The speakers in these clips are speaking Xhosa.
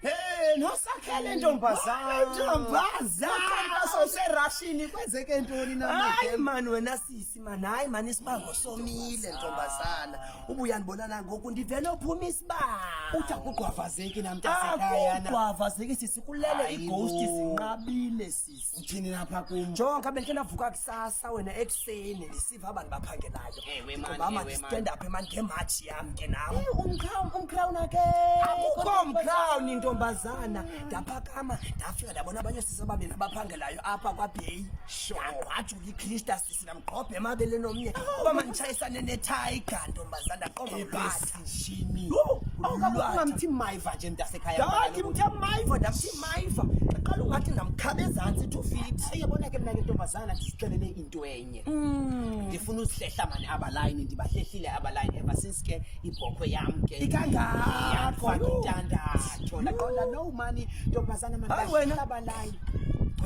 Hey, nosakhele ntombazana. Ntombazana soserashini kwenzeke ntoni na? Hayi man wena sisi man, hayi man isibango somile ntombazana. Ubuya ndibona na ngoku ndivele uphuma isibango. Uthi akugwavazeki namntasekhaya na. Akugwavazeki sisi kulele ighost zinqabile. uthini lapha kum jonka bendike ndavuka kusasa wena ekuseni ndisiva abantu baphangelayo Ewe, man, ngoba ewe, mandistand up mani ngematshi yam ke nam umcrown umcrown ake akukho mcrown intombazana ndaphakama ndafika ndabona abanye sisi ababini abaphangelayo apha kwabheyi ndagqwajula ikrista ndingamgqobha emabeleni omnye uba manditshayisane nethayiga ntombazana qoma ubasishini ungamthi mayiva nje mntasekhaya ndathi mthe mayiva ndamthi mayiva qala ungathi ndamkhaba ezantsi two feet eyabona ke mna ke ntombazana ndizixelele into enye mm. ndifuna uzihlehla mani abalayini ndibahlehlile abalayini ever since ke ibhokhwe yam ke ikangako intandatho ndaqonda no mani ntombazana mani abalayini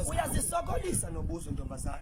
uyazisokolisa nobuzo ntombazana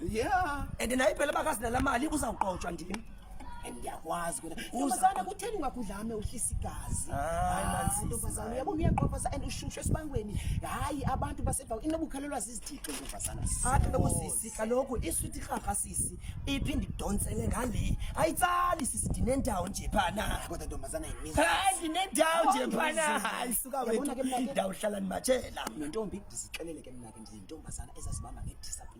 Yeah. And naye phela bakazina la mali uzawuqotshwa ndim. And ndiyakwazi kwena. Uzana kutheni ungakudlame uhlisa igazi. Hayi manzi. Ntombazana yabo uyaqofa and ushushe esibangweni. Hayi abantu basebawu inobukhalelwa zizithixo ntombazana. Athi lokho sisi kaloku isuthi khafa sisi iphinde idonsele ngale. Ayitsali sisi ndinendawo nje phana. Kodwa ntombazana yimini. Hayi ndinendawo nje phana. Hayi suka wethu. Ndawuhlala ndimatshela. Nontombi ndizixelele ke mna ke ndintombazana ezazibamba ngediscipline.